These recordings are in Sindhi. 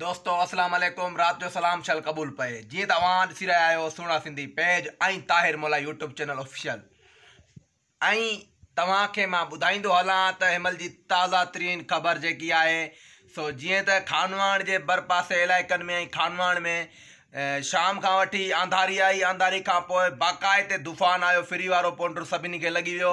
دوستو السلام عليڪم رات جو سلام شل قبول پئي جيئن ته اوهان ڏسي رهيا آهيو سهڻا Sindhi page ۽ Tahir Molai YouTube channel official ۽ توهان کي مان ٻڌائيندو هلان ته هيمل جي تازا ترين خبر جيڪي آهي سو جيئن ته خانواڻ جي بر پاسي علائقن ۾ ۽ خانواڻ ۾ شام کان وٺي آنڌاري آئي آنڌاري کان پوء باقاعدي طوفان آيو فري وارو پونڊر سڀني کي لڳي ويو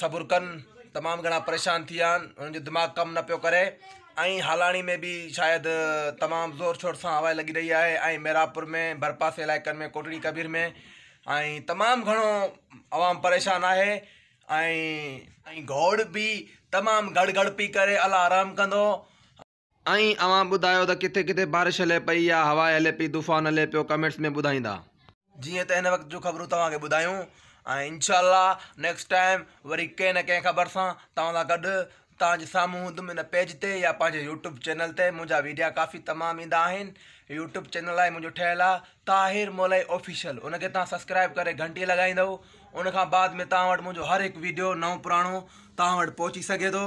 صبر ڪن تمام گهڻا پريشان ٿي ويا آهن انهن جو دماغ ڪم نه پيو ڪري ۽ هالاڻي ۾ به شايد تمام زور شور سان هوا لڳي رهي آهي ۽ محرابپور ۾ ڀرپاسي علائقن ۾ ڪوٽڙي ڪبير ۾ ۽ تمام گهڻو عوام پريشان آهي ۽ ۽ گوڙ به تمام گڙ گڙ پي ڪري الله رحم ڪندو ۽ اوهان ٻڌايو ته ڪٿي ڪٿي بارش هلي پئي يا هوا هلي پئي طوفان هلي پيو ڪمينٽس ۾ ٻڌائيندا. جيئن ته هن وقت جون خبرون توهان کي ٻڌايون ۽ انشاء الله نيڪسٽ ٽائيم وري ڪنهن نه ڪنهن خبر سان توهان سان گڏ توهان جي سامهون هوندم هن پيج تي يا پنهنجي يوٽيوب چينل تي منهنجا ويڊيا ڪافي تمام ايندا آهن يوٽيوب چينل آهي منهنجو ٺهيل آ طاهر مولائي آفيشل ان کي توهان سبسڪرائيب ڪري گهنٽي لڳائيندو ان کان بعد ۾ توهان وٽ منهنجو هر هڪ ويڊيو نئون پراڻو توهان وٽ پهچي سگهي ٿو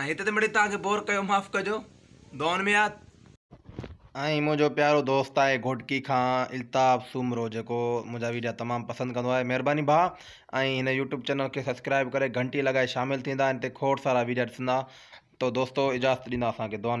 ۽ هتي تي مڙئي توهان کي بور ڪيو معاف ڪجو. دعائن ۾ ياد. ۽ منهنجو پيارو دوست آهي گهوٽڪي کان الطاف سومرو جيڪو منهنجا ويڊيا تمام پسند ڪندو آهي مهرباني ڀاء ۽ هن يوٽيوب چينل کي سبسڪرائب ڪري گهنٽي لڳائي شامل ٿيندا هن تي کوڙ سارا ويڊيا ڏسندا تو دوستو اجازت ڏيندا اسان کي دعائن ۾